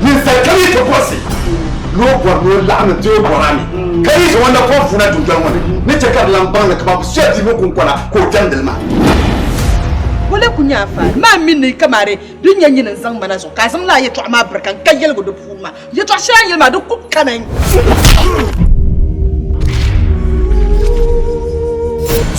Ninsal kam yi ti bɔrisi ni o bɔri ni o laɣim n-ti o bɔra ni, ka yi zaŋ o na kɔŋ vuuna dundoli ŋɔ ni, ni chɛ ka di lan baŋ ni kaman bɛ soya piibu kuŋkɔna ka o jɛmdi li maa. Ŋɔ la ku nyɛ a faali maa mini ni yi kamari din nyɛ nyini n-zaŋ ma na zuɣu, ka a zaŋ lala yɛtɔɣa maa birika n-ka yɛligu di puuni maa. Yɛtɔɣ shɛli a ni yɛli maa, di ku kami.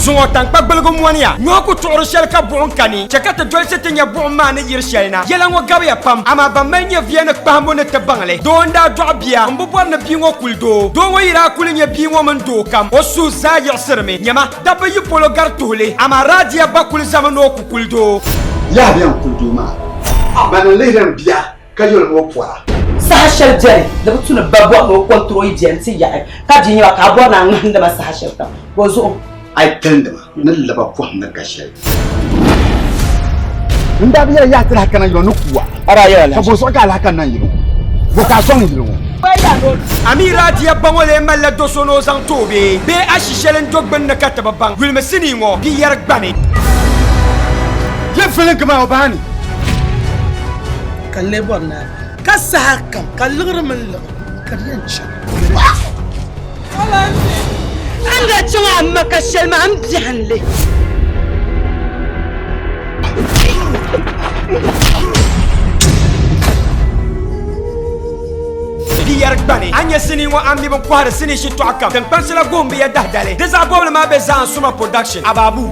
Zuŋɔ taŋkpa gbaligu mɔniya. Nyɔhi ku tuɣiri shɛli ka buɣim kani, chɛ ka ti dolsi ti nya buɣim maa ni yiri shɛli na. Yɛla ŋɔ gabiya pam, amaa ban mali nyɛviya ni kpahimbu ni ti baŋ li. Doo n-daa dɔɣi bia, m bi bɔri ni bia ŋɔ kuli doo. Doo ŋɔ yi daa kuli nya bia ŋɔ mini doo kam, o suhu zaa yiɣisirimi. Nyama, dabba yi polo gari tuhi li, amaa Radiya ba kuli zami ni o ku kuli doo. Yaha bɛn kuli doo maa, bɛ ni lihiri n bia. ka yoli ni o pɔra. Saha shɛli beni di bi tu ni ba bɔri ni o kɔntiri o yi beni ti yaɣi ka bia nyɛba ka a bɔri ni a ŋmahindi ma saha shɛli kam ka o zuɣu. A yi talindi ma ni laba pɔhim ni ka shɛli. N daa bi yɛli yaɣi ti lahi kana yili ŋɔ ni kuwa ka bo zuɣu ka a lahi kani na yili ŋɔ? Bo ka a sɔŋ yili ŋɔ? Amira diya ba ŋɔ lee malila do so ni o zaŋ ti o bee? Bee ashi shɛli n-do gbunni ka ti bi baŋ? Yulimi sinii ŋɔ bia yɛri gbani. Di vilingi maa o baa ni. ka n lee bɔri ni a bahi. Ka saha kam ka liɣiri mini liɣiri ka di yɛn chaŋ. A ni daa chaŋ a ma ka shɛli maa m biɛhinnli. Di yɛri gbani, a nya sinii ŋɔ a mi bi kɔhiri sinii shitɔɣu kam. Tiŋkpansila goon bi ya dahi dali. Di zaɣ bɔbili maa be Zaan'Suma Production, Ababu.